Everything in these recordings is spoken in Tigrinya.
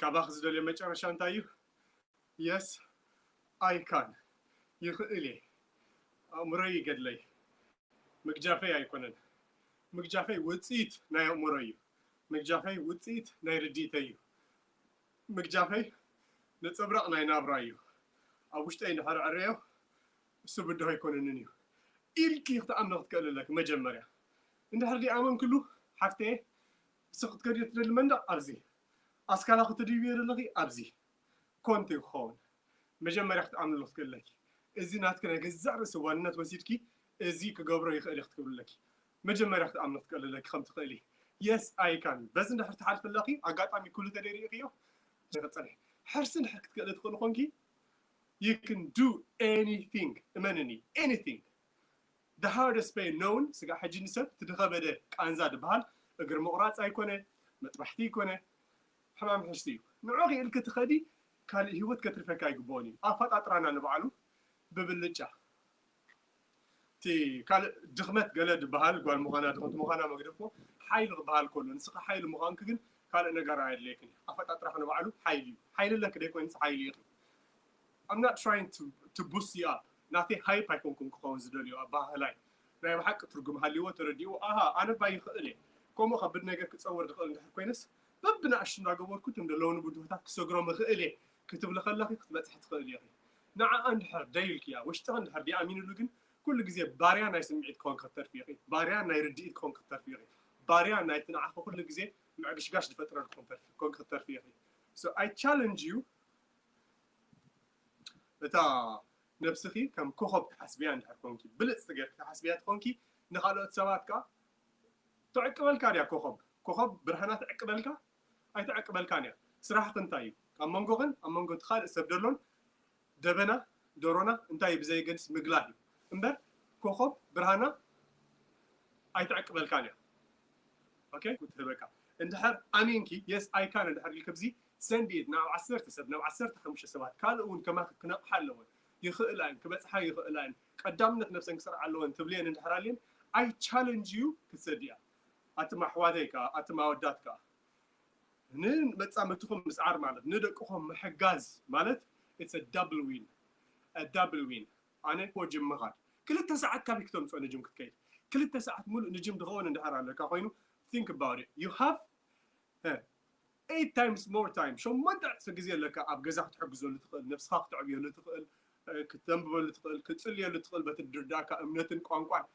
ካባኺ ዝደልዮ መጨረሻ እንታይ እዩ? የስ ኣይ ካን፣ ይኽእል እየ፣ ኣእምሮይ ይገድለይ፣ ምግጃፈይ ኣይኮነን፣ ምግጃፈይ ውጽኢት ናይ ኣእምሮይ እዩ፣ ምግጃፈይ ውጽኢት ናይ ርድኢተይ እዩ፣ ምግጃፈይ ነጸብራቕ ናይ ናብራይ እዩ፣ ኣብ ውሽጠይ እንድሕር እዕረዮ እሱ ብድሆ ኣይኮነንን እዩ ኢልኪ ክትኣምኒ ክትክእሊ ኣለኪ መጀመርያ። እንድሕር ደይኣመንክሉ ሓፍተየ እስኪ ክትከድዮ ትደሊ መንደቕ ኣብዚ፣ ኣስካላ ክትድይብዮ ደለኺ ኣብዚ፣ ኮንቱ እዩ ክኸውን። መጀመርያ ክትኣምንሉ ክትክእልለኪ፣ እዚ ናትኪ ናይ ገዛእ ርእሲ ዋንነት ወሲድኪ እዚ ክገብሮ ይኽእል እየ ክትክብልለኪ፣ መጀመርያ ክትኣምኒ ክትክእልለኪ ከም ትኽእሊ፣ Yes I can፣ በዚ እንድሕር ትሓልፊ ኣለኺ፣ ኣጋጣሚ ኩሉ ተደይ ርኢኽዮ፣ ንክትጸንሒ ሕርሲ እንድሕር ክትክእሊ ትኽእሊ ኮንኪ፣ You can do anything፣ እመንኒ፣ Anything፣ The hardest pain known ስጋዕ ሕጂ ንሰብ እቲ ድኸበደ ቃንዛ ድበሃል እግሪ ምቑራጽ ኣይኮነ መጥባሕቲ ይኮነ ሕማም ሕስቲ እዩ ንዑ ኪኢልኪ ትኸዲ ካልእ ሂወት ከትርፈኪ ኣይግብኦን እዩ ኣፋጣጥራና ንባዕሉ ብብልጫ እቲ ካልእ ድኽመት ገለ ድበሃል ጓል ምዃና ድኽምቲ ምዃና መግደፎ ሓይሊ ክበሃል ከሎ ንስኺ ሓይሊ ምዃንኪ ግን ካልእ ነገር ኣየድልየክን እዩ ኣፈጣጥራኺ ንባዕሉ ሓይሊ እዩ ሓይሊ ኣለኪ ደይኮይንስ ሓይሊ ኢኺ I'm not trying to to boost you up ናተይ ሃይፕ ኣይኮንኩን ክኸውን ዝደልዮ ኣበሃህላይ ናይ ብሓቂ ትርጉም ሃልይዎ ተረዲእዎ ኣሃ ኣነ እባ ይኽእል እየ ከምኡ ከብድ ነገር ክጸወር ዝኽእል እንድሕር ኮይነስ በብንኣሽቱ እንዳገበርኩ እቶም ዘለዉኒ ብድሆታት ክሰግሮም እኽእል እየ ክትብሊ ከለኺ ክትበጽሒ ትኽእሊ ኢኺ ንዓኣ እንድሕር ደይ ኢልክያ ውሽጥኺ እንድሕር ደይ ኣሚንሉ ግን ኩሉ ግዜ ባርያ ናይ ስምዒት ክኾንኪ ክትተርፊ ኢኺ ባርያ ናይ ርድኢት ክኾንኪ ክትተርፊ ኢኺ ባርያ ናይቲ ንዓኺ ኩሉ ግዜ ምዕግሽጋሽ ዝፈጥረልኩም ተርፊ ክትኮንኪ ክትተርፊ ኢኺ so I challenge you እታ ነብስኺ ከም ኮኾብ ትሓስብያ እንድሕር ኮንኪ፣ ብልጽቲ ጌርኪ ትሓስብያ ተኾንኪ፣ ንኻልኦት ሰባት ከኣ ትዕቅበልካ ድያ ኮኾብ? ኮኾብ ብርሃና ትዕቅበልካ? ኣይትዕቅበልካን እያ። ስራሕኺ እንታይ እዩ? ኣብ መንጎኽን ኣብ መንጎ እቲ ካልእ ሰብ ደሎን ደበና፣ ደሮና፣ እንታይ እዩ ብዘየገድስ ምግላህ እዩ እምበር ኮኾብ ብርሃና ኣይትዕቅበልካን እያ። ኦኬ። ክትህበካ እንድሕር ኣሚንኪ፣ Yes I can እንድሕር ኢልኪ ብዚ ሰንድይድ ናብ ዓሰርተ ሰብ ናብ ዓሰርተ ሓሙሽተ ሰባት ካልእ ውን ከማኺ ክነቕሓ ኣለወን ይኽእላ እየን ክበጽሓ ይኽእላ እየን ቀዳምነት ነብሰን ክሰርዓ ኣለወን ትብልየን እንድሕር ኣልየን ኣይ ቻለንጅ ዩ ክትሰድያ ኣቱም ኣሕዋተይ ከኣ ኣቱም ኣወዳት ከኣ ን መጻምድትኹም ምስዓር ማለት ን ደቅኹም ምሕጋዝ ማለት ኢትስ እ ዳብል ዊን እ ዳብል ዊን ኣነ ኮ ጅም ምኻድ ክልተ ሰዓት ካበይ ክተምጽኦ ንጅም ክትከይድ ክልተ ሰዓት ሙሉእ ንጅም ድኸውን እንድሕር ኣለካ ኮይኑ ቲንክ ኣባውት ኢት ዩ ሃቭ Eight times more time ሸሞንተ ዕጽፊ ግዜ ኣለካ ኣብ ገዛ ክትሕግዘሉ ትኽእል፣ ነብስኻ ክተዕብየሉ ትኽእል፣ ክተንብበሉ ትኽእል፣ ክትጽልየሉ ትኽእል፣ በቲ ድርዳእካ እምነትን ቋንቋን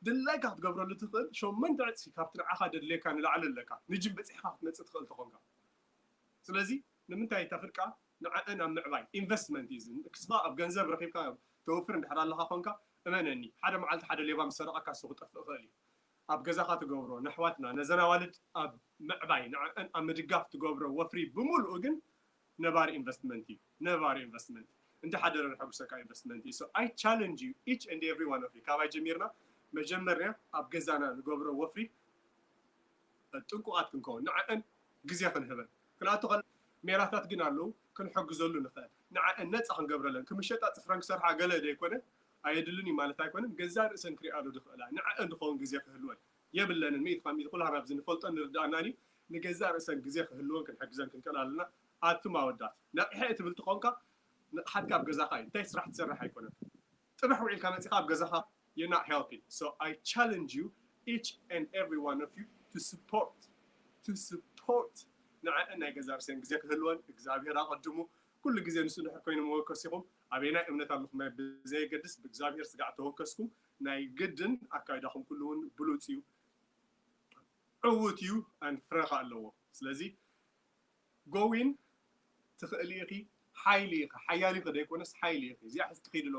ድላይካ ክትገብረሉ ትኽእል ሸሞንተ ዕጽፊ ካብቲ ንዓኻ ደድልየካ ንላዕሊ ኣለካ ንጂም በጺሕኻ ክትመጽእ ትኽእል ተኾንካ ስለዚ ንምንታይ ተፍርቃ ንዐኣን ኣብ ምዕባይ ኢንቨስትመንት እዩ እዚ ንስኻ ኣብ ገንዘብ ረኺብካ ተወፍር እንድሕር ኣለኻ ኮንካ እመነኒ ሓደ መዓልቲ ሓደ ሌባ ምስ ሰረቐካ ንሱ ክጠፍእ ይኽእል እዩ ኣብ ገዛኻ ትገብሮ ነሕዋትና ነዘን ኣዋልድ ኣብ ምዕባይ ንዐዐን ኣብ ምድጋፍ ትገብሮ ወፍሪ ብምሉኡ ግን ነባሪ ኢንቨስትመንት ኢዩ ነባሪ ኢንቨስትመንት እንዳ ሐደረ ንሐጉሰካ ኢንቨስትመንት ኢዩ so i challenge you each and every one of you ካባይ ጀሚርና መጀመርያ ኣብ ገዛና ንገብሮ ወፍሪ ጥንቁቃት ክንከውን ንዐዐን ግዜ ክንህበን ክንኣቱ ከለና ሜላታት ግን ኣለዉ ክንሕግዘሉ ንኽእል ንዐዐን ነጻ ክንገብረለን ክምሸጣ ጽፍረን ክሰርሓ ገለ ዘይኮነ ኣየድልን እዩ ማለት ኣይኮነን፣ ገዛእ ርእሰን ክሪኣሉ ዝኽእላ፣ ንዐኣን ዝኸውን ግዜ ክህልወን የብለንን፣ ሚእቲ ካብ ሚእቲ ኩላህና ኣብዚ ንፈልጦን ንርድኣናን እዩ፣ ንገዛእ ርእሰን ግዜ ክህልወን ክንሕግዘን ክንክእል ኣለና፣ ኣቱም ኣወዳት ነቒሐ እየ ትብል ተኾንካ ንቕሓትካ ኣብ ገዛኻ እዩ፣ እንታይ ስራሕ ትሰርሕ ኣይኮነን፣ ጽባሕ ውዒልካ መጺኻ ኣብ ገዛኻ you're not helping so I challenge you each and every one of you to support to support ንዐኣን ናይ ገዛእ ርእሰን ግዜ ክህልወን እግዚኣብሄር ኣቐድሙ ኩሉ ግዜ ንሱ ድሕር ኮይኑ መወከሲ ኢኹም፣ ኣበየናይ እምነት ኣለኹም ብዘየገድስ ብእግዚኣብሔር ስጋዕ ተወከስኩም ናይ ግድን ኣካይዳኹም ኩሉ እውን ብሉጽ እዩ ዕዉት እዩ and ፍረ ከኣ ኣለዎ ስለዚ go in ትኽእሊ ኢኺ ሓይሊ ኢኺ ሓያል ኢኺ ዘይኮነስ ሓይሊ ኢኺ እዚኣ ሒዝኪ ኺዲ